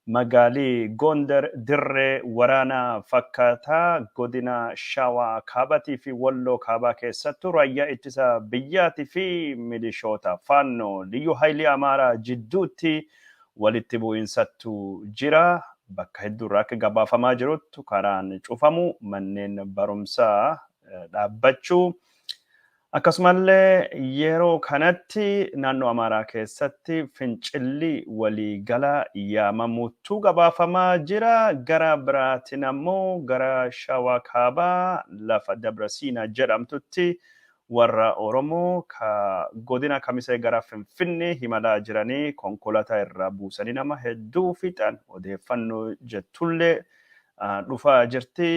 Magaali Goondar dirree waraanaa fakkaata. Godina Shawaa Kaabaatii fi Walloo Kaabaa keessattuu Raayyaa Ittisa Biyyaatii fi milishoota Faannoo, Liyyuu Haayilii Amaaraa jidduutti walitti bu'iinsattu jira. Bakka hedduurraa akka gabaafamaa jiruttu karaan cufamuu, manneen barumsaa dhaabbachuu, Akkasumallee yeroo kanatti naannoo Amaaraa keessatti fincilli walii gala yaamamuutu gabaafamaa jira. Gara biraatiin ammoo gara Shawaa Kaabaa lafa Dabra Siinaa jedhamtutti warra Oromoo ka godina Kamisee gara Finfinnee himalaa jiranii konkolaataa irraa buusanii nama hedduu fixan odeeffannoo jettullee dhufaa jirti.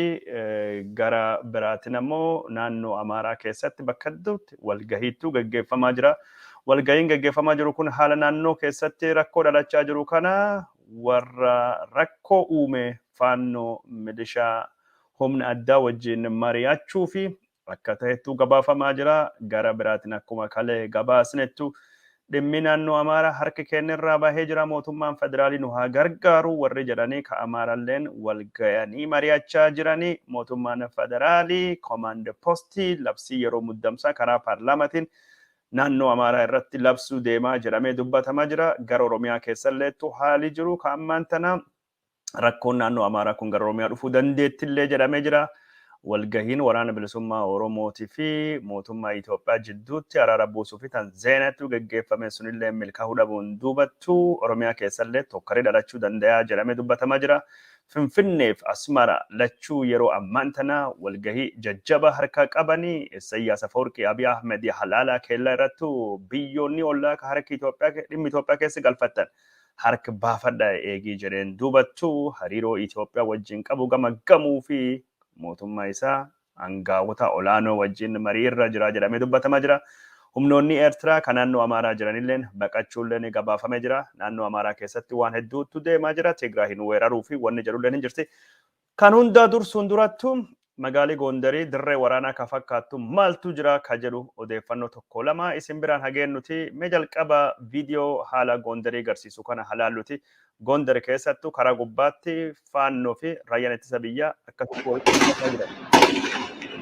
Gara biraatiin ammoo naannoo Amaaraa keessatti bakka hedduutti walgahiittuu gaggeeffamaa jira. Walgahiin gaggeeffamaa jiru kun haala naannoo keessatti rakkoo dhalachaa jiru kana warra rakkoo uume faannoo milishaa humna addaa wajjin mari'achuu fi akka tahettu gabaafamaa jira. Gara biraatiin akkuma kale gabaasnettu dhimmi naannoo Amaaraa harki keenyarraa bahee jira mootummaan federaalii nu haa gargaaru warri jedhanii ka Amaaralleen wal gayanii mari'achaa jiranii mootummaan federaalii komaand postii labsii yeroo muddamsaa karaa paarlaamatiin naannoo Amaaraa irratti labsuu deemaa jedhamee dubbatamaa jira. Gara Oromiyaa keessalleettu haali jiru ka ammaan tana rakkoon naannoo Amaaraa kun gara Oromiyaa dhufuu dandeettillee jedhamee jira. Walgahiin waraana bilisummaa Oromootii fi mootummaa Itoophiyaa jidduutti araara buusuu fi tan Zeenatu geggeeffame sunillee milkaa'uu dhabuun duubattu Oromiyaa keessallee tokkaree dhalachuu dandayaa jedhamee dubbatamaa jira. Finfinneef Asmara lachuu yeroo ammaan tana walgahii jajjaba harkaa qabani. Issayyaas Afawarqii Abiy Ahmed halaalaa keellaa irrattu biyyoonni ollaa ka harki Itoophiyaa dhimmi Itoophiyaa keessa galfattan hark baafadha eegii jedheen duubattu hariiroo Itoophiyaa wajjin qabu gamaggamuu fi mootummaa isaa angaawota olaanoo wajjin marii irra jira jedhamee dubbatamaa jira. Humnoonni Eertiraa kan naannoo Amaaraa jiranilleen baqachuulleen gabaafamee jira. Naannoo Amaaraa keessatti waan hedduutu deemaa jira. Tigraayin weeraruu fi wanni jedhulleen hin jirti. Kan hundaa dursuun durattu magaalii Goondarii dirree waraanaa ka fakkaattu maaltu jira ka jedhu odeeffannoo tokko lama isin biraan ha geennuti mee jalqaba viidiyoo haala Goondarii garsiisu kana ha laalluti. Goondar keessattu karaa gubbaatti Faannoo fi Raayyaan Ittisa Biyyaa akkasitti walitti dhufachaa jiran.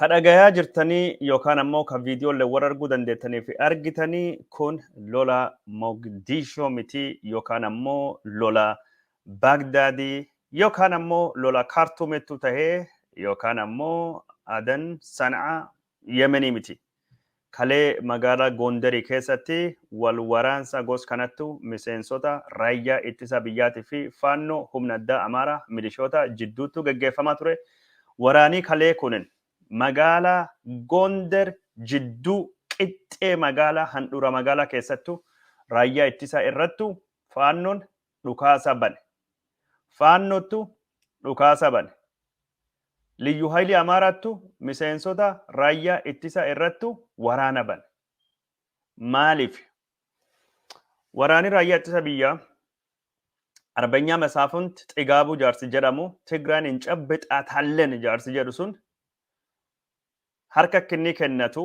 Ka dhagayaa jirtanii yookaan ammoo ka viidiyoolle warra arguu dandeettanii fi argitanii kun lola Mogdiishoo miti yookaan ammoo lola Baagdaadii yookaan ammoo lola Kaartuumettuu tahee yookaan ammoo Adan Sanaa Yemenii miti. Kalee magaalaa Gondarii keessatti wal waraansa gos kanattu miseensota Raayyaa Ittisa Biyyaati fi Faannoo, Humna Addaa Amaaraa, milishoota, jidduuttu geggeeffamaa ture. Waraanii kalee kunin magaalaa Gonder jidduu qixxee magaalaa handhuura magaalaa keessattu Raayyaa Ittisaa irrattu Faannoon dhukaasa bane. Faannottu dhukaasa bane. Liyyu Hayilii Amaaraattu miseensota raayyaa ittisa irrattu waraana bane. Maaliif? Waraanni raayyaa ittisa biyyaa Arbanyaa Masaafunt Xigaabuu jaarsi jedhamu Tigraan hin cabbixaa taallen jaarsi jedhu sun harka kinnii kennatu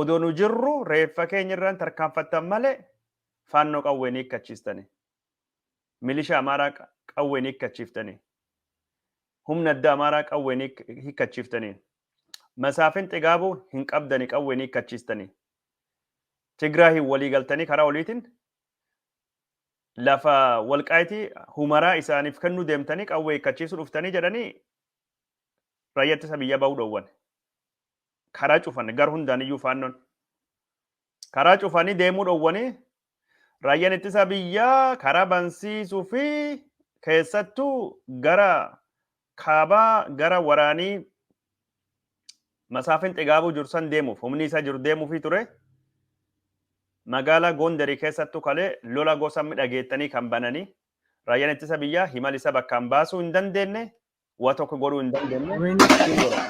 Odoo nu jirru reeffa keenya irra hin tarkaanfattan malee Faannoo qawween hiikkachiistanii. Milishaa Amaaraa qawween hiikkachiiftanii. Humna addaa Amaaraa qawween hiikkachiiftanii. Masaafin Xigaabuu hin qabdanii qawween hiikkachiistanii. Tigraayiin walii galtanii karaa oliitiin lafa walqaayitii humaraa isaaniif kennuu deemtanii qawwee hiikkachiisuu dhuftanii jedhanii raayyaa ittisa biyyaa bahuu dhoowwan. karaa cufan gar hundaan iyyuu faannoon karaa cufanii deemuu dhowwanii raayyaan ittisaa biyyaa karaa bansiisuu fi keessattuu gara kaabaa gara waraanii masaafin xigaabuu jiru san deemuuf humni isaa jiru deemuufii ture magaalaa Gondarii keessattuu kalee lola gosa midhageettanii kan bananii raayyaan ittisa biyyaa himal isa bakkaan baasuu hin dandeenye wa tokko godhuu hin dandeenye Wayne asiin godha.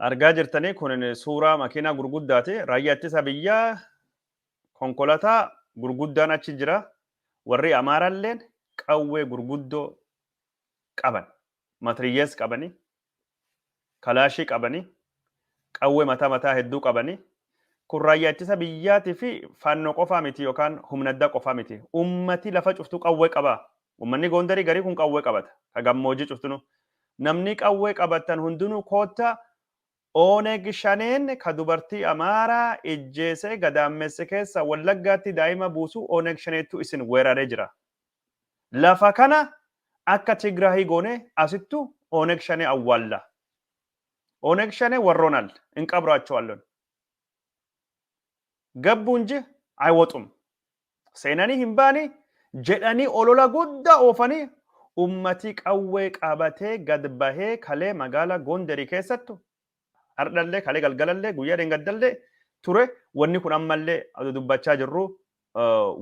argaa jirtanii kun suuraa makiinaa gurguddaati raayyaa ittisa biyyaa konkolataa gurguddaan achi jira warri amaaraalleen qawwee gurguddoo qaban. Matriyyees qabani, kalaashii qabani, qawwee mataa mataa hedduu qabani. Kun raayyaa ittisa biyyaati fi faannoo qofaa miti yookaan humna addaa qofaa miti. Ummati lafa cuftuu qawwee qaba. Ummanni Goondarii garii kun qawwee qabata. Ka gammoojii cuftinuu. Namni qawwee qabattan hundinuu kootta Oneg Shaneen ka dubartii Amaaraa ijjeesee gadaammesse keessa Wallaggaatti daa'ima buusu Oneg Shaneettu isin weeraree jira. Lafa kana akka Tigrahi goone asittu Oneg Shane awwaalla. Oneg Shane warroonal inqabraachoallon. Gabbu inji aywoxum. Seenanii hin baani jedhanii olola guddaa oofanii ummatii qawwee qabatee gad bahee kalee magaala Gonderi keessattu Hardhallee kalee galgalallee guyyaa dheengaddallee ture wanni kun ammallee adu dubbachaa jirru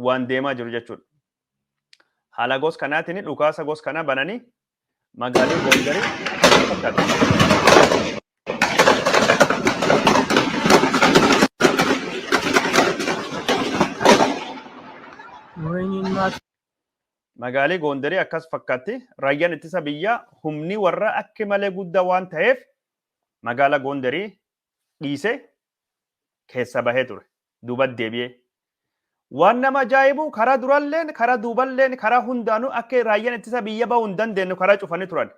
waan deemaa jiru jechuudha. Haala gos kanaatiin dhukaasa gos kanaa bananii magaalii Gondarii fakkaata. Wayiniin maas Magaalii Goonderii akkas fakkaatti. Raayyaan ittisa biyyaa humni warra akki malee guddaa waan taheef magaala Goonderii dhiise keessa bahee ture. Duubat deebi'ee. Waan nama ajaa'ibu karaa duralleen karaa duuballeen karaa hundaanuu akka raayyaan ittisa biyya bahuu hin dandeenyu karaa cufanii turan.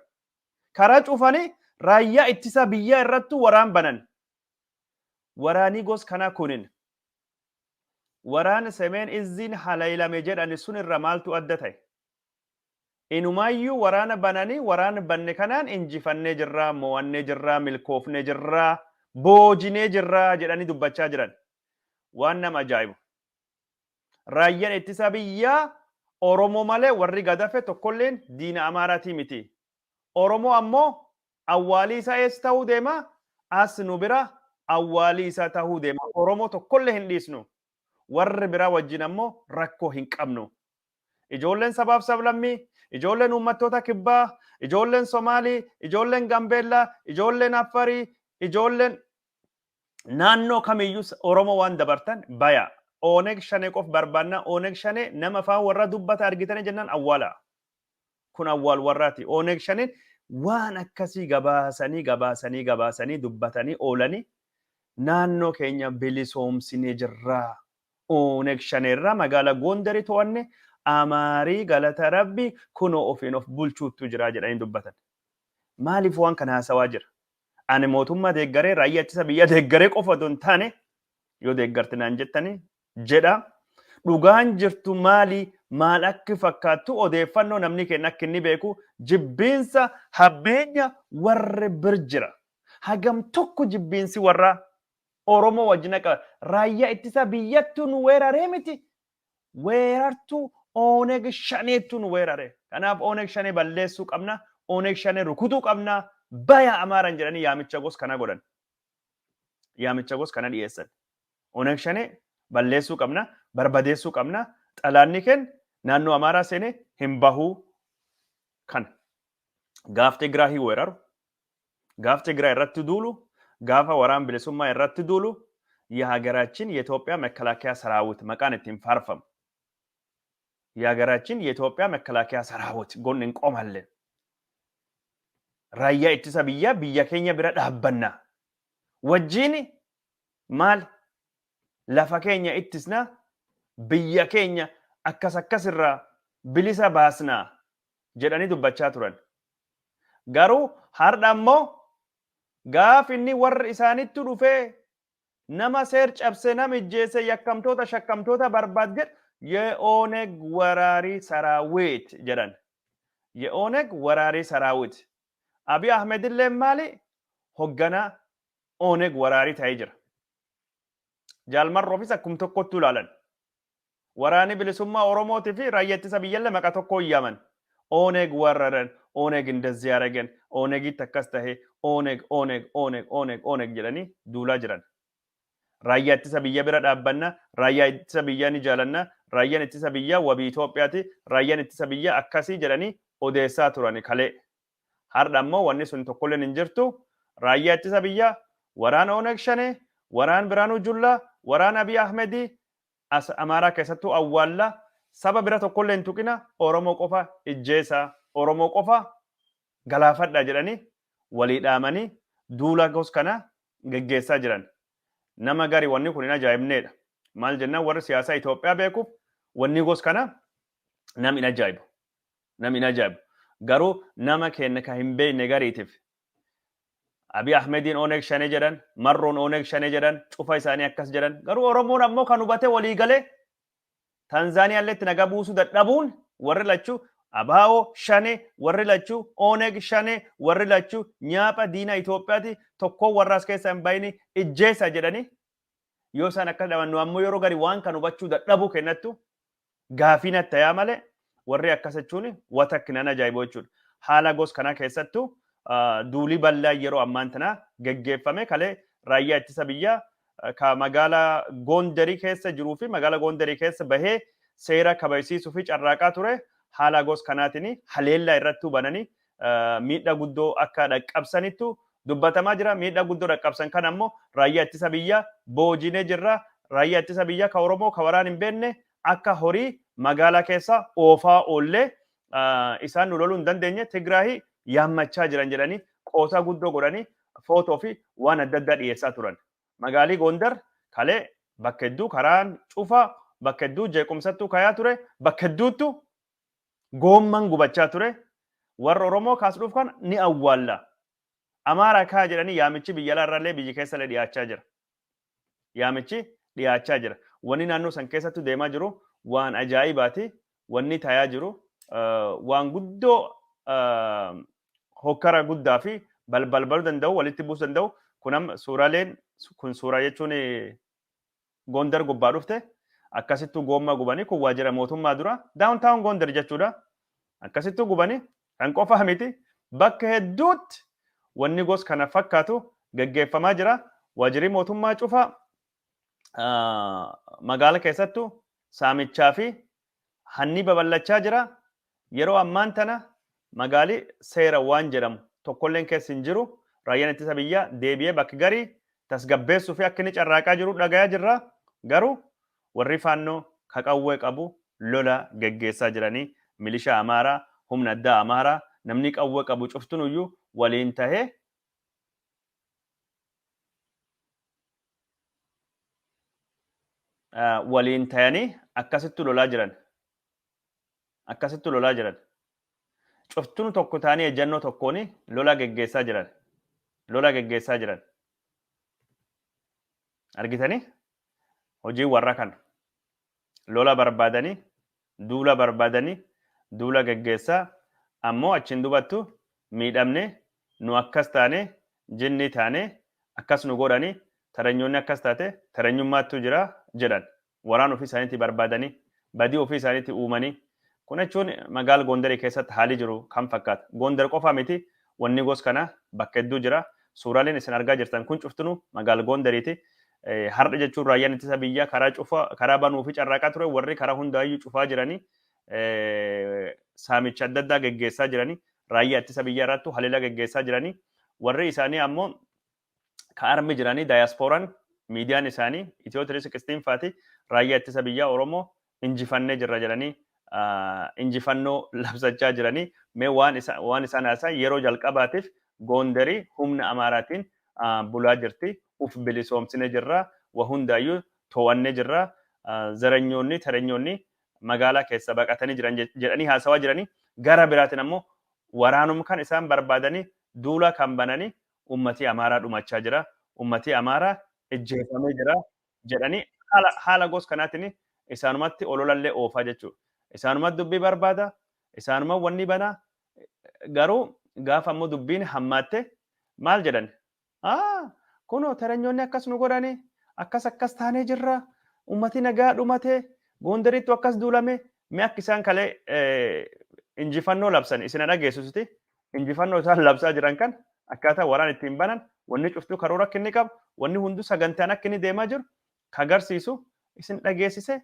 Karaa cufanii raayyaa ittisa biyyaa irrattu waraan banan. Waraanii gos kanaa kunin. waraana Semeen Izziin haleelame jedhani sun irra maaltu adda ta'e? Inumaayyuu waraana banani waraana banne kanaan injifannee jirra, moo'annee jirra, milkoofnee jirra, boojinee jirra jedhanii dubbachaa jiran. Waan nama ajaa'ibu. Raayyan ittisaa biyyaa Oromoo malee warri gadafe tokkolleen diina Amaaraatii miti. Oromoo ammoo Awwaalii isaa eessa tahuu deema? As nu bira awwaalii isaa tahuu deema. Oromoo tokkollee hin dhiisnu. Warri biraa wajjin ammoo rakkoo hin qabnu. Ijoolleen sabaaf sablammii, ijoolleen uummattoota kibbaa, ijoolleen Somaalii, ijoolleen Gambeellaa, ijoolleen Affarii, ijoolleen naannoo kamiyyuu Oromoo waan dabartan bayaa. Oneg Shanee qof barbaannaa. Oneg Shanee nama afaan warraa dubbata argitanii jennaan awwaalaa. Kun awwaal warraati. Oneg Shaneen waan akkasii gabaasanii gabaasanii gabaasanii dubbatanii oolanii naannoo keenya bilisoomsinee jirra, Oneg Shanee irraa magaala Gondari to'anne, Amaarii galata Rabbii kunoo ofiin of bulchuuttu jira jedhanii dubbatan. Maaliif waan kana haasawaa jira? Ani mootummaa deeggaree raayyaa ittisa biyyaa deeggaree qofa otoo hin taane yoo deeggarti naan jettanii jedha. Dhugaan jirtu maali? Maal akki fakkaattu? Odeeffannoo namni keenya akki inni beeku jibbiinsa hammeenya warri bir jira. Hagam tokko jibbiinsi warraa Oromoo wajjin akka raayyaa ittisaa biyyattuu nu weeraree miti weerartuu Oneg Shaneettuu nu weerare. Kanaaf Oneg Shanee balleessuu qabna, Oneg Shanee rukutuu qabna, baya Amaaran jedhanii yaamicha gos kana godhan. Yaamicha gos kana dhiyeessan. Oneg Shane balleessuu qabna, barbadeessuu qabna, xalaanni keen naannoo Amaaraa seene hin bahu kana. Gaaf Tigraahi weeraru, gaaf Tigraay irratti duulu, gaafa waraan bilisummaa irratti duulu Yahagaraachin Yetoophiyaa Mekkalaakiyaa Saraawit maqaan ittiin faarfamu. Yahagaraachin Yetoophiyaa Mekkalaakiyaa Saraawit gon hin qomalle. Raayyaa ittisa biyyaa biyya keenya bira dhaabbanna. Wajjiin Maal lafa keenya ittisna, biyya keenya akkas akkas irraa bilisa baasna jedhanii dubbachaa turan. Garuu hardha ammoo gaaf inni warri isaanittu dhufee nama seer cabse, nam ijjeesse, yakkamtoota, shakkamtoota barbaad jedhu Ye'ooneg waraarii saraawiit jedhan. Ye'ooneg waraarii saraawiit. Abiy Ahmed illeen maali? Hogganaa Oneg waraarii ta'ee jira. Jaal Marroofis akkum tokkottuu ilaalan. Waraanni bilisummaa Oromootii fi raayya ittisa biyyallee maqa tokkoon yaaman. Oneg warraran, Oneg indazzii aragen, Onegitti akkas tahe, Oneg, Oneg, Oneg, Oneg, Oneg jedhanii duulaa jiran. Raayyaa ittisa biyya bira dhaabbanna, raayyaa ittisa biyyaa ni jaalanna, raayyan ittisa biyyaa wabii Itoophiyaati, raayyan ittisa biyyaa akkasii jedhanii odeessaa turani kalee. Hardha ammoo wanni sun tokkolleen hin jirtu. Raayyaa Ittisa Biyyaa, Waraana Oneg Shanee, Waraan Biraanuu Jullaa, Waraan Abiy Ahmedii as Amaaraa keessattuu awwaallaa, saba bira tokkollee hin tuqina, Oromoo qofa ijjeesaa, Oromoo qofa galaafadhaa jedhanii walii dhaamanii duula gos kana geggeessaa jiran. Nama gari wanni kun hin ajaa'ibneedha. Maal jennaan warri siyaasaa Itoophiyaa beekuuf wanni gos kana nam hin ajaa'ibu. nam hin ajaa'ibu. Garuu nama keenna ka hin beeyne gariitiif Abiy Ahmediin Oneg Shanee jedhan, Marroon Oneg Shanee jedhan, cufa isaanii akkas jedhan. Garuu Oromoon ammoo kan hubatee walii galee Tanzaaniyaalleetti nagaa buusuu dadhabuun warri lachuu Abaawo Shanee, warri lachuu Oneg Shanee, warri lachuu nyaapha diina Itoophiyaati, tokkoon warra as keessaa hin bahinii ijjeessaa jedhanii yoo isaan akkas dhaban nu ammoo yeroo garii waan kan hubachuu dadhabuu keennattu Gaafii natti tayaa malee warrii akkas jechuun wa takk nan ajaa'iboo jechuudha. Haala gos kanaa keessattu duulii bal'aa yeroo ammaan tanaa geggeeffame kalee raayyaa ittisa biyyaa ka magaala Goondarii keessa jiruu fi magaala Goondarii keessa bahee seera kabajsiisuu fi carraaqaa ture haalaa gos kanaatiin haleellaa irrattuu bananii miidhaa guddoo akka dhaqqabsanittu dubbatamaa jira. Miidhaa guddoo dhaqqabsan kana ammoo raayyaa ittisa biyyaa boojinee jirra. Raayyaa ittisa biyyaa ka Oromoo ka waraan hin beekne akka horii magaalaa keessa oofaa oollee isaan nu loluu hin dandeenye Tigraahii yaammachaa jiran jedhanii qoosaa guddoo godhanii footoo fi waan adda addaa dhiyeessaa turan. Magaalii Gondar kalee bakka hedduu karaan cufaa bakka hedduu jeequmsattuu kayaa ture bakka hedduuttu Goomman gubachaa ture warra Oromoo kaas dhufkan ni awwaalla. Amaara kaa jedhanii yaamichi biyya alaa irraallee biyyi keessa illee dhiyaachaa jira. Yaamichi dhiyaachaa jira. Wanni naannoo san keessattu deemaa jiru waan ajaa'ibaati. Wanni taayaa jiru waan guddoo hokkara guddaa fi balbalbaluu danda'u walitti buusu danda'u kunam suuraleen kun suuraa jechuun Gondar gubbaa dhufte akkasittuu goommaa gubanii kun waajjira mootummaa duraa down town Gondar jechuudha akkasittuu gubanii kan qofaa miti bakka hedduutti wanni gos kana fakkaatu geggeeffamaa jira waajjirri mootummaa cufaa magaala keessattu saamichaa fi Hanni babal'achaa jira. Yeroo ammaan tana magaali seera waan jedhamu tokkolleen keessa hin jiru. Raayyaan Ittisa Biyyaa deebi'ee bakk gari tasgabbeessuuf akka inni carraaqaa jiru dhagayaa jirra. Garuu warri Faannoo ka qawwee qabu lola geggeessaa jiranii milishaa Amaaraa, humna addaa Amaaraa namni qawwee qabu cuftinuyyuu waliin tahee, ah, waliin tayanii akkasitti lolaa jiran akkasitti lolaa jiran cuftinu tokko taanii ejjannoo tokkoon lolaa geggeessaa jiran lolaa geggeessaa jiran argitanii hojii warra kana Lola barbaadani, duula barbaadani, duula geggeessaa, ammoo achiin dubattu miidhamne, nu akkas taane, jinnii taane, akkas nu godhani, taranyoonni akkas taate, taranyummaattuu jira jedhan. Waraana ofii isaaniitii barbaadani, badii ofii isaaniitii uumani, Kun jechuun magaal Gondarii keessatti haalii jiru kam fakkaata? Gondar qofaa miti wanni gos kana bakka hedduu jira. Suuraaleen isin argaa jirtan kun cuftinu magaal Gondariiti. Hardha jechuun raayyaan ittisa biyyaa karaa cufa karaa banuu fi carraaqaa ture warri karaa hundaayyuu cufaa jiranii saamicha adda addaa geggeessaa jiranii raayyaa ittisa biyyaa irrattu haleelaa geggeessaa jiranii warri isaanii ammoo ka armi jiranii daayaspooran miidiyaan isaanii Itiyoo 316 faati raayyaa ittisa biyyaa Oromoo injifannee jirra jedhanii injifannoo labsachaa jiranii mee waan isaan haasan yeroo jalqabaatiif goondarii humna amaaraatiin bulaa jirti uf bilisoomsine jirra wa hundaayyuu too'annee jirra zaranyoonni taranyoonni magaalaa keessa baqatanii jiran jedhanii haasawaa jiranii gara biraatiin ammoo waraanum kan isaan barbaadanii duula kan bananii uummatii Amaaraa dhumachaa jira, uummatii Amaaraa ijjeefamee jira jedhanii haala haala gos kanaatiin isaanumatti ololallee oofaa jechuudha. Isaanuma dubbii barbaada, isaanuma wannii banaa garuu gaafa ammoo dubbiin hammaatte maal jedhan aa kunoo terenyoonni akkas nu godhanii akkas akkas taanee jirra uummatii nagaa dhumatee goondariittu akkas duulame mee akka isaan kalee injifannoo labsan isin dhageessisuti injifannoo isaan labsaa jiran kan akkaataa waraan ittiin banan wanni cuftuu karoora akka inni qabu wanni hunduu sagantaan akka inni deemaa jiru ka agarsiisu isin dhageessise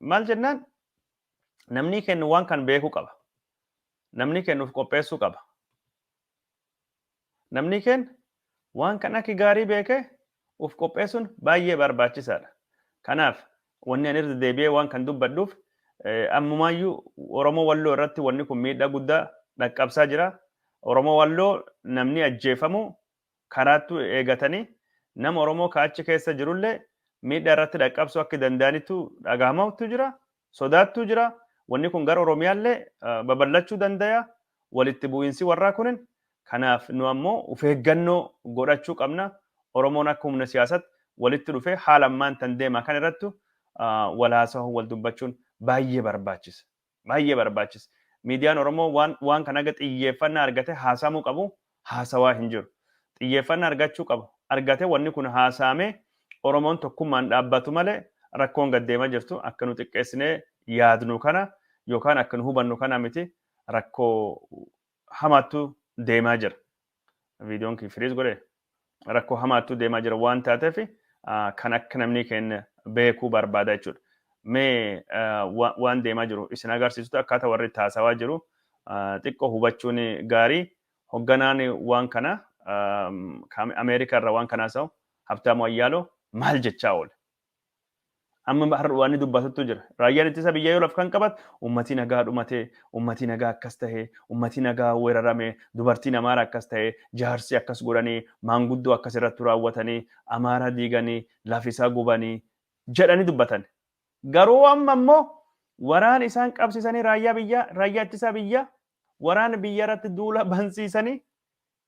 maal jennaan namni kennu waan kan beekuu qaba namni kennuuf qopheessuu qaba Namnii keenna waan kan akki gaarii beekee uf qopheessuun baay'ee baarbaachisaa dha. Kanaaf wanni ani irra deebi'ee waan kan dubbadhuuf ammumaayyuu Oromoo Walloo irratti wanni kun miidhaa guddaa dhaqqabsaa jira. Oromoo Walloo namnii ajjeefamu karaattu eegatanii nama Oromoo ka achi keessa jirullee miidhaa irratti dhaqqabsuu akki danda'anittu dhagahamawttu jira. sodaattuu jira. Wanni kun gara Oromiyaallee babal'achuu dandaya. Walitti bu'iinsi warraa kunin kanaaf nu ammoo uf eeggannoo godhachuu qabna. Oromoon akka humna siyaasatti walitti dhufee haala ammaan tan deemaa kan irrattu wal haasahuun wal dubbachuun baay'ee barbaachisa. Baay'ee barbaachisa. Miidiyaan Oromoo waan waan kan haga xiyyeeffannaa argatee haasahamuu qabu haasawaa hin jiru. Xiyyeeffanna argachuu qaba. Argate wanni kun haasaamee Oromoon tokkummaan dhaabbatu malee rakkoon gad deema jirtu akka nu xiqqeessinee yaadnu kana yookaan akka nu hubannu kana miti rakkoo hamaattu deemaa jira. Viidiyoon kiyya firiiz godhee? rakkoo hamaattuu deemaa jira waan taateef kan akka namni keenya beekuu barbaada jechuudha. Mee waan deemaa jiru isin agarsiisutu akkaataa warri itti haasawaa jiru xiqqoo hubachuun gaarii hogganaan waan kana Ameerikaa irra waan kana haasa'u Habtaamuu Ayyaaloo maal jechaa oole? Amma har'a waan inni dubbatuttu jira. Raayyaan ittisa biyyaa yoo laf kan qabatu uummatii nagaa dhumate, uummatii nagaa akkas tahe, uummatii nagaa weerarame, dubartiin Amaara akkas tahe, jaarsi akkas godhanii, maanguddoo akkas irrattu raawwatanii, Amaara diiganii, laf isaa gubanii jedhanii dubbatan. Garuu amma immoo waraana isaan qabsiisanii raayyaa biyyaa, raayyaa ittisaa biyyaa, waraana biyya irratti duula bansiisanii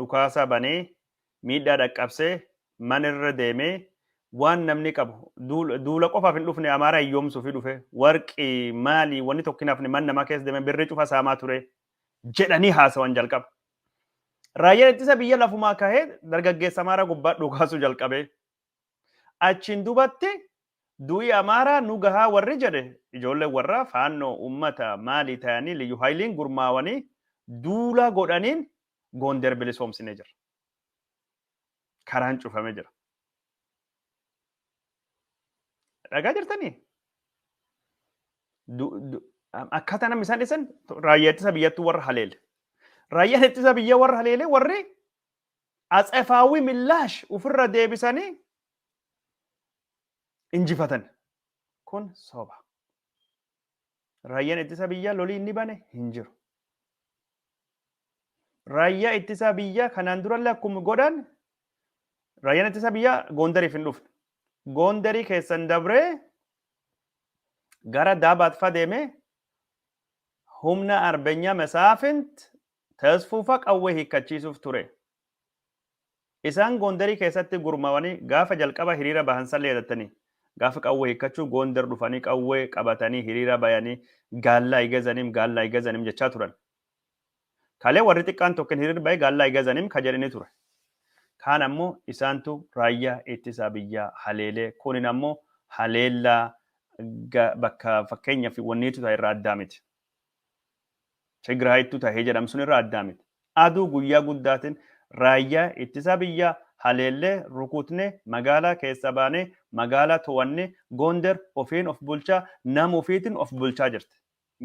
dhukaasa banee miidhaa dhaqqabse mana irra deemee waan namni qabu duula qofaaf hin dhufne Amaaraa hiyyoomsuufi dhufe warqii maalii wanni tokko hin hafne mana namaa keessa deemee birrii cufa saamaa ture jedhanii haasawan jalqaba. Raayyaan ittisa biyya lafumaa kahee dargaggeessa Amaaraa gubbaa dhukaasuu jalqabee. Achiin dubatti du'i Amaaraa nu gahaa warri jedhe ijoolleen warraa Faannoo uummata Maalii tayanii Liyyu Hayliin gurmaawanii duula godhaniin Goonder bilisoomsine jirra. Karaan cufame jira. Dhagaa jirtanii? Akkaataa namni isaan dhisan raayyaa ittisa biyyattuu warra haleele. Raayyaan ittisa biyya warra haleele warri Atsefaawi millaash ufirra deebisanii injifatani. Kun soba. Raayyan ittisa biyyaa lolii inni bane hin jiru. Raayyaa ittisa biyyaa kanaan durallee akkuma godhan raayyaan ittisa biyyaa Goondariif hin dhufne. Goondarii keessan dabree gara Daabaat faa deemee humna Arbeenya Mesaafint Tasfufa qawwee hiikkachiisuuf ture. Isaan Goondarii keessatti gurmaawanii gaafa jalqaba hiriira bahan sallee yadattanii? Gaafa qawwee hiikkachuu Goondar dhufanii qawwee qabatanii hiriira bayanii Gaallaa Igazanim Gaallaa Igazanim jechaa turan. Kalee warri xiqqaan tokkin hiriir bahe Gaallaa Igazanim ka jedhini ture. Kaan ammoo isaantu raayyaa ittisaa biyyaa haleelee kunin ammoo haleellaa bakka fakkeenyaaf wanniitu irraa addaa miti. Tigraayittu tahe jedhamu sun irraa addaa miti. Aduu guyyaa guddaatin raayyaa ittisaa biyyaa haleellee rukuutnee magaalaa keessaa baanee magaalaa towannee Gonder ofiin of bulchaa nama ofiitin of bulchaa jirti.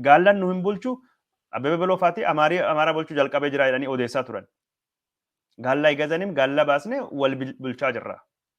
Gaallan nu hin bulchu Abbebe Beloo faati Amaarii Amaaraa bulchuu jalqabee jiraa jedhanii odeessaa turan. Gaalla Igazanim gaalla baasnee wal bulchaa jirra.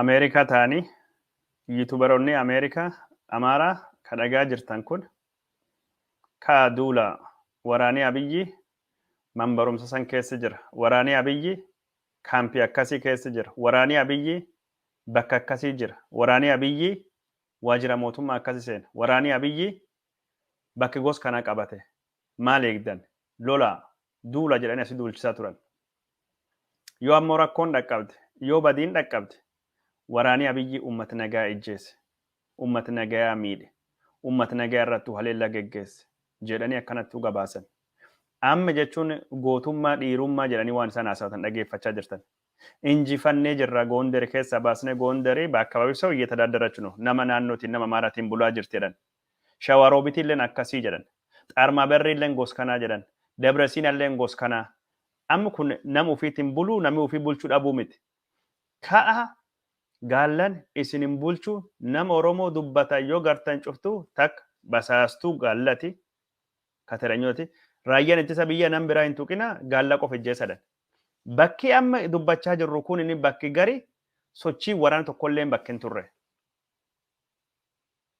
Ameerikaa taanii yutubaronnii Ameerikaa Amaaraa ka dhagaa jirtan kun kaa duulaa waraanii Abiyyii man barumsa san keessa jira waraanii Abiyyii kaampii akkasii keessa jira waraanii Abiyyii bakka akkasii jira waraanii Abiyyii waajira mootummaa akkasi seena waraanii Abiyyii bakki gos kanaa qabate maal eegdan lolaa duula jedhanii asi duulchisaa turan Yoo ammoo rakkoon dhaqqabde, yoo badiin dhaqqabde, waraanii Abiyyi uummat nagaya ijjeese, uummat nagayaa miidhe, uummat nagaya irrattuu haleellaa geggeesse jedhanii akkanattuu gabaasan. Amma jechuun gootummaa, dhiirummaa jedhanii waan isaan haasawatan dhageeffachaa jirtan. Injifannee jirra, Goonderi keessaa baasnee, Goonderi b'akkababi sew eyyetadaadarach no, nama naannootiin, nama Amaaraatiin bulaa jirti jedhan. Shawaaroobitilleen akkasii jedhan. Xaarmaaberriilleen gos kanaa jedhan. Debresiinalleen gos kanaa. Amma kun nama ufiitiin buluu nami ufii bulchuu dhabuu miti. Ka'a gaallan isin hin bulchu nama Oromoo dubbata yoo gartan cuftuu takka basaastuu gaallati, kateranyooti, raayyaan ittisa biyyaa nam biraa hin tuqina gaalla qofa ijjeessa dhan. Bakki amma dubbachaa jirru kunini bakki gari sochiin waraana tokkolleen bakki hin turre.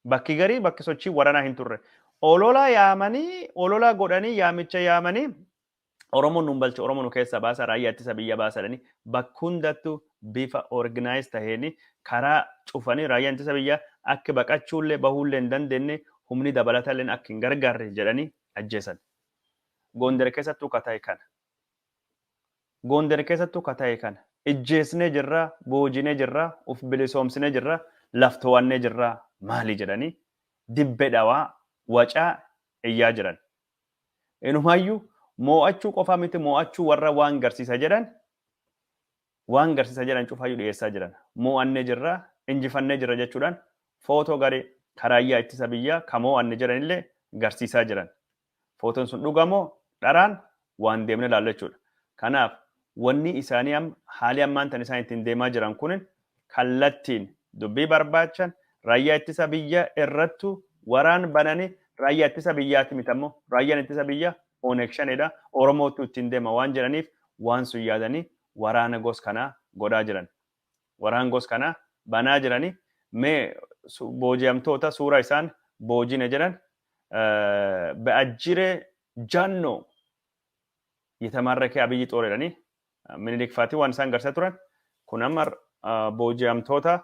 Bakki gari bakki sochiin waranaa hin turre. Ololaa yaamanii ololaa godhanii yaamicha yaamanii Oromo nun balcha Oromo nu keessa baasa raayyaa ittisa biyya baasa jedhanii bakka hundattu bifa organize taheen karaa cufanii raayyaan ittisa biyyaa akka baqachuullee bahuullee hin dandeenye humni dabalatalleen akka hin gargaarre jedhanii ajjeesan. Goonder keessattuu ka tahe kana. Goonder keessattuu ka tahe kana. Ijjeesnee jirraa, boojinee jirraa, uf bilisoomsinee jirraa, laf to'annee jirraa maali jedhanii dibbe dhawaa wacaa iyyaa jiran. Inumaayyuu moo'achuu qofaa miti moo'achuu warra waan garsiisa jedhan waan garsiisa jedhan cufaayyuu dhiyeessaa jiran. Moo'annee jirra, injifannee jirra jechuudhaan footoo garee karaayyaa ittisa biyyaa ka moo'anne jedhanillee garsiisaa jiran. Footoon sun dhuga moo dharaan waan deemne ilaallu jechuudha. Kanaaf Wannii isaanii amma haalii ammaan tana isaan ittiin deemaa jiran kunin kallattiin dubbii barbaachan raayyaa ittisa biyya irrattu waraan banani raayyaa ittisa biyyaati miti ammoo raayyaan ittisa biyya oneg shanedha oromoottu ittiin deema waan jedhaniif waan sun yaadanii waraana gos kanaa godhaa jiran waraan gos kanaa banaa jirani mee booji'amtoota suuraa isaan boojine jedhan be'ajjire jannoo Yitamarreke Abiyyi xoor jedhanii Minilik faatii waan isaan garsiisaa turan kun amma booji'amtoota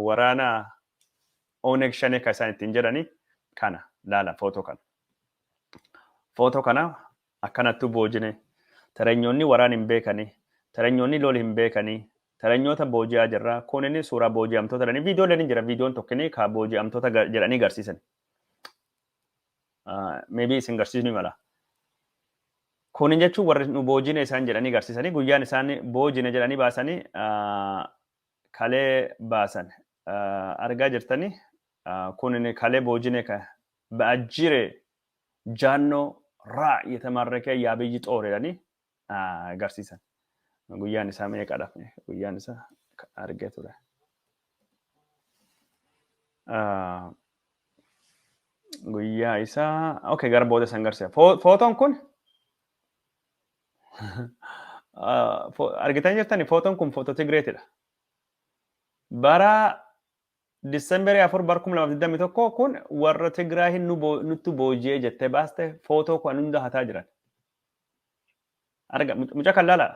waraana Oneg Shanee kan isaan ittiin jedhanii kana laala footoo kana. Footoo kana akkanattuu boojine tarenyoonni waraan hin beekanii tarenyoonni lol hin beekanii tarenyoota booji'aa jirra kun inni suuraa booji'amtoota jedhanii viidiyooleen hin jira viidiyoon tokkini ka booji'amtoota jedhanii garsiisan. Maybe isin garsiisni mala. Kun jechuun warri nu boojine isaan jedhanii garsiisanii guyyaan isaan boojine jedhanii baasanii kalee baasan argaa jirtanii kun kalee boojine ka ba'ajjire jaannoo raa yetamaarrekee yaabiyyi xooreedhanii agarsiisan. Guyyaan isaa meeqadha? Guyyaan isaa argee ture. Guyyaa isaa okay gara booda san garsiisa. Footoon kun argitan jirtani footoon kun footoo Tigireetidha. Bara Disemberii afur bara kuma lamaaf digdamii tokko kun warra Tigraayin nutti booji'ee jettee baaste footoo kan hunda hataa jiran. arga muca kan laala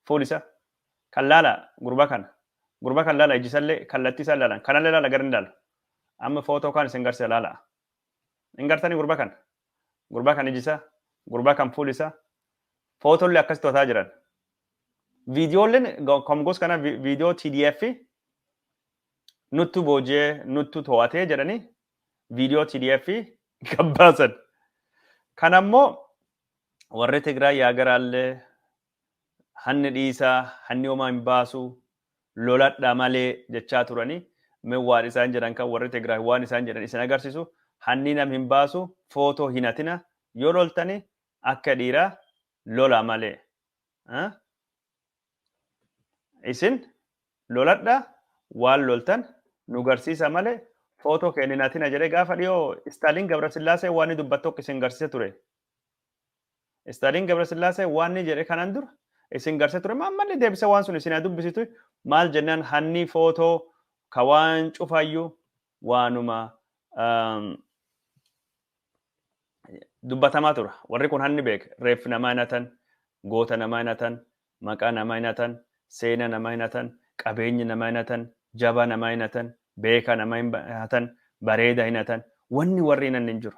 foon isa kan laala gurba kana gurba kan laala ijji isallee kallattii isaan laalan kanallee laala gara hin laalu amma footoo kaan isin garsiisa laala hin gartanii gurba kana gurba kan ijji isaa gurba kan fuul isaa footollee akkas to'ataa jiran viidiyoolleen komgoos kana viidiyoo TDF nuttu boojee nuttu to'atee jedhanii viidiyoo TDF gabbaasan. Kan ammoo warri Tigraay yaa garaallee hanni dhiisaa hanni homaa hin baasu loladha malee jechaa turanii mee waan isaan jedhan kan warri Tigraay waan isaan jedhan isin agarsiisu hanni nam hin baasu footoo hin hatina yoo loltanii akka dhiiraa lola malee. Isin loladha waal loltan nu garsiisa male photo kee ninatina jedhe gaafa dhiyoo Stalin Gabrasillaasee waanni dubbat tokko isin garsiisa ture. Stalin Gabrasillaasee waanni jedhe kanan dura isin garsiisa ture ma ammallee deebise waan sun isin dubbisitu maal jennaan hanni photo ka waan cufayyu waanuma dubbatamaa tura. Warri kun hanni beek reeffi namaa hin hatan, goota namaa hin hatan, maqaa namaa hin hatan, seena namaa hin hatan, qabeenyi namaa hin hatan, jabaa namaa hin hatan, beekaa namaa hin hatan, bareeda hin hatan. Wanni warri hin hanne hin jiru.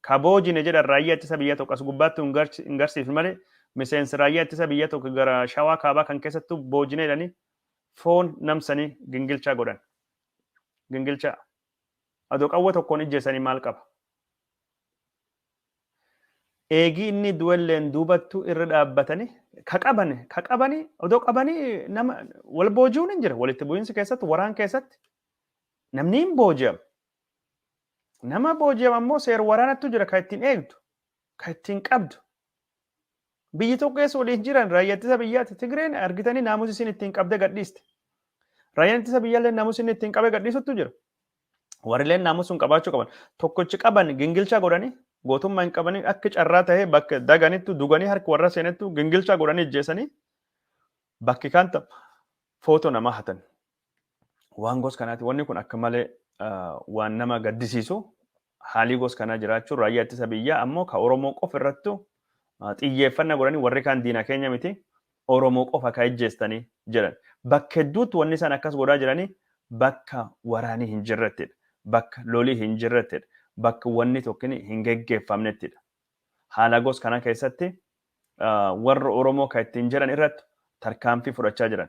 Ka boojine jedhan raayyaa ittisa biyyaa tokko as gubbaatti hin garsiifne malee miseensi raayyaa ittisa biyyaa tokko gara shawaa kaabaa kan keessattuu boojine jedhanii foon namsanii gingilchaa godhan. Gingilchaa. Adoo qawwa tokkoon ijjeessanii maal qaba? Eegii inni du'elleen duubattu irra dhaabbatanii ka qabani ka qabani odoo qabanii nama wal booji'uun hin jira walitti bu'iinsi keessatti waraan keessatti namni hin booji'amu Nama booji'ame ammoo seer waraanattu jira kan ittiin eegdu, kan ittiin qabdu. Biyyi tokko keessa waliin jiran raayyaa ittisa biyyaatti Tigreen argitanii naamusi isin ittiin qabdee gadhiiste. Raayyaan ittisa biyyaallee naamusi inni ittiin qabee gadhiisuttu jira. Warrilleen naamusi sun qabaachuu qaban. Tokkichi qaban gingilchaa godhanii gootummaa hin qabanii akka carraa ta'ee bakka daganittu duganii harki warra seenettu gingilchaa godhanii ijjeessanii bakki kaan footoo namaa hatan. waan gos kanaati. Wanni kun akka malee waan nama gaddisiisu haalii gos kanaa jiraachuu raayyaa ittisa biyyaa ammoo ka Oromoo qofa irrattu xiyyeeffannaa godhanii warri kaan diina keenya miti Oromoo qofa ka ejjeestanii jedhan. Bakka hedduutti wanni isaan akkas godhaa jiranii bakka waraanii hin jirrettidha. Bakka lolii hin jirrettidha. Bakka wanni tokkin hin geggeeffamnettidha. Haala gos kanaa keessatti warra Oromoo ka ittiin jedhan irratti tarkaanfii fudhachaa jiran.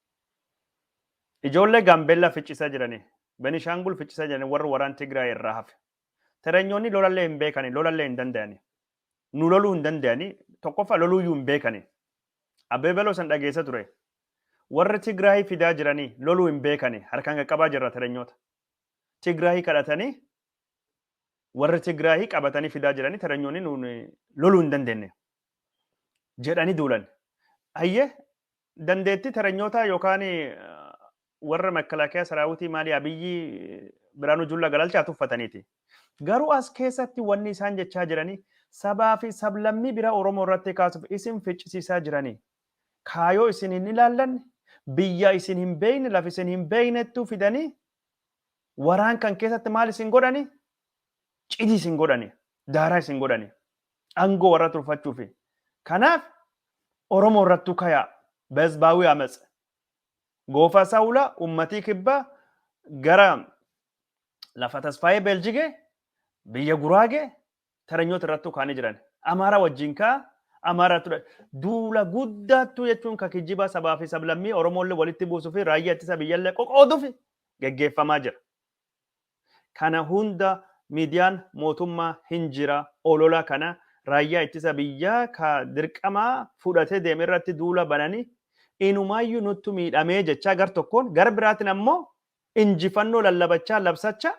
Ijoollee Gaambeellaa ficcisaa jirani. Benishaangul ficcisaa jirani warri waraan Tigraay irraa hafe. Terenyoonni lolallee hin beekani, lolallee hin dandayani. Nu loluu hin dandayani, tokkoffaa loluuyyuu hin beekani. Abbee Beloo san dhageessa ture. Warri Tigraay fidaa jirani loluu hin beekani, harkaan qaqqabaa jirra terenyoota. Tigraay kadhatanii warri Tigraay qabatanii fidaa jirani terenyoonni nuun loluu hin dandeenye. Jedhanii duulan. Hayyee Dandeettii teranyootaa yookaan warra Makalaakiyaa Saraawitii maalii Abiyyii Biraanuu Jullaa galalchaa tuffataniiti. Garuu as keessatti wanni isaan jechaa jiranii sabaa fi sablammii biraa Oromoo irratti kaasuuf isin ficcisiisaa jiranii. Kaayoo isin hin ilaallanne, biyya isin hin beekne, lafa isin hin beeknettuu fidanii waraan kan keessatti maal isin godhanii? Cidii isin godhanii. daaraa isin godhani angoo warra turfachuufi kanaaf oromoo irrattuu kayaa bezbaawii amatse goofaa saawulaa ummatii kibbaa gara lafa tasfaayee beeljigee biyya guraagee taranyoota irrattuu kaanii jiran amaaraa wajjin kaa amaaraa ture duula guddaattuu jechuun ka kijjibaa sabaa fi sablammii oromoollee walitti buusuu fi raayyaa ittisa biyyallee qoqooduuf geggeeffamaa jira. Kana hunda miidiyaan mootummaa hin jira olola kana raayyaa ittisa biyyaa ka dirqamaa fudhatee deeme irratti duula bananii inumaayyuu nuttu miidhamee jechaa gar tokkoon gar biraatiin ammoo injifannoo lallabachaa labsachaa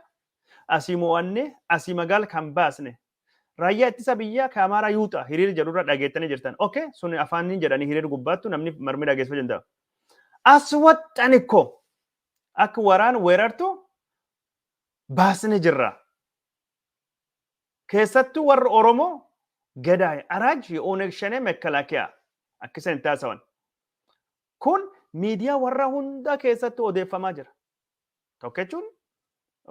asii moo'annee asii magaal kan baasne raayyaa ittisa biyyaa ka amaaraa yuuxa hiriir jedhu irra dhageettanii jirtan ok sun afaaniin jedhanii hiriir gubbaattu namni marmi dhageessifachuu danda'a as waxxan ikko Akka waraan weerartu baasne jirra. Keessattuu warri Oromoo Gadaay Araaj Ooneg Shanee Mekkalakiyaa akka isaan itti haasawan. Kun miidiyaa warra hundaa keessatti odeeffamaa jira. Tokko jechuun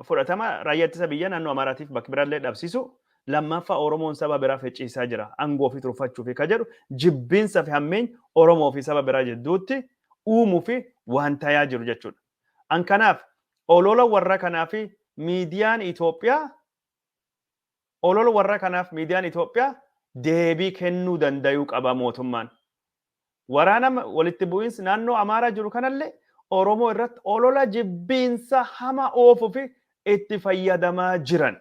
fudhatama raayyaa ittisa biyyaa naannoo Amaaraatiif bakka biraallee dhabsisu, lammaaffaa Oromoon saba biraa fecciisaa jira aangoo ofii turfachuufi ka jedhu jibbiinsa fi hammeenya Oromoo fi saba biraa jidduutti uumufi waan tayaa jiru jechuudha. An kanaaf olola warra kanaafi miidiyaan Itoophiyaa olola warra kanaaf miidiyaan Itoophiyaa deebii kennuu dandayuu qaba mootummaan. Waraana walitti bu'iinsi naannoo Amaaraa jiru kanallee Oromoo irratti olola jibbiinsa hama oofuuf itti fayyadamaa jiran.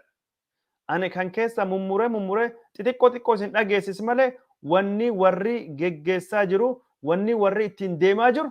Ani kan keessa mummuree mummuree xixiqqoo xiqqoo isin dhageessis malee wanni warri geggeessaa jiru, wanni warri ittiin deemaa jiru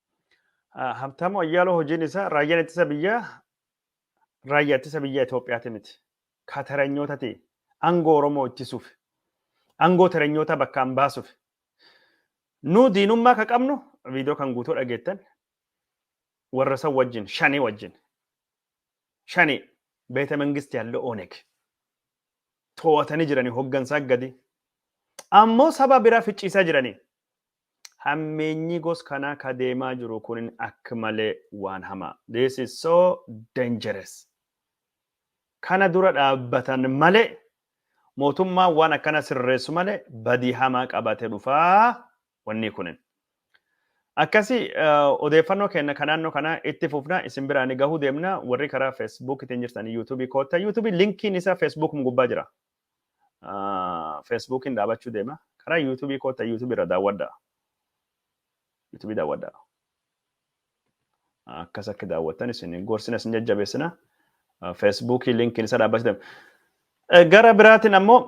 Habtaamu Ayyaaloo hojiin isaa raayyaan ittisa biyyaa raayyaa ittisa biyyaa Itoophiyaati miti. Ka taranyootati aangoo Oromoo ittisuuf aangoo taranyootaa bakkaan baasuuf nu diinummaa ka qabnu viidiyoo kan guutuu dhageettan warra san wajjin shanii wajjin shanii beeta mangisti halluu ooneg to'atanii jiranii hoggansaa gadi ammoo saba biraa ficciisaa jiranii Hammeenyii gos kanaa ka deemaa jiru kunin akk malee waan hamaa. This is so dangerous. Kana dura dhaabbatan malee mootummaan waan akkana sirreessu malee badii hamaa qabate dhufa wannii kunin. Akkasi odeeffannoo keenna ka naannoo kanaa itti fufna isin biraa ni gahuu deemna warri karaa Facebook itiin jirtan YouTube kootta YouTube linkiin isa Facebook gubbaa jira. Feesbuukiin dhaabachuu deema. Karaa yuutuubii koottaa yuutuubii irra daawwadhaa. Yuutuubii daawwadhaa. Akkas akka daawwattan isin gorsina isin jajjabeessina. Feesbuukii linkiin isa dhaabbachuu deema. Gara biraatiin ammoo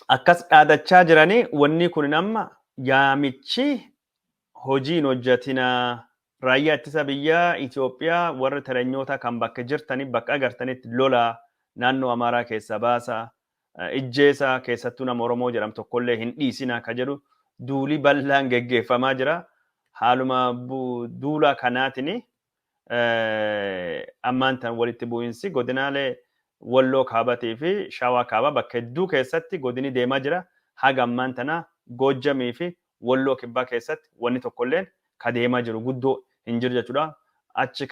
akkas dhaadachaa jiranii wanni kun amma yaamichi hojii hin hojjatinaa. Raayyaa ittisa biyyaa Itoophiyaa warri teranyootaa kan bakka jirtani bakka agartanitti lolaa naannoo Amaaraa keessaa baasaa, ijjeesaa, keessattuu nama Oromoo jedhamu tokkollee hin dhiisinaa ka jedhu duulii bal'aan geggeeffamaa jira. Haaluma duula kanaatini ammaan tan walitti bu'iinsi godinaalee Walloo Kaabatii fi Shawaa Kaabaa bakka hedduu keessatti godini deemaa jira. Haga ammaan tanaa Goojjamii fi Walloo Kibbaa keessatti wanni tokkolleen ka deemaa jiru guddoo hin jiru jechuudha. Achi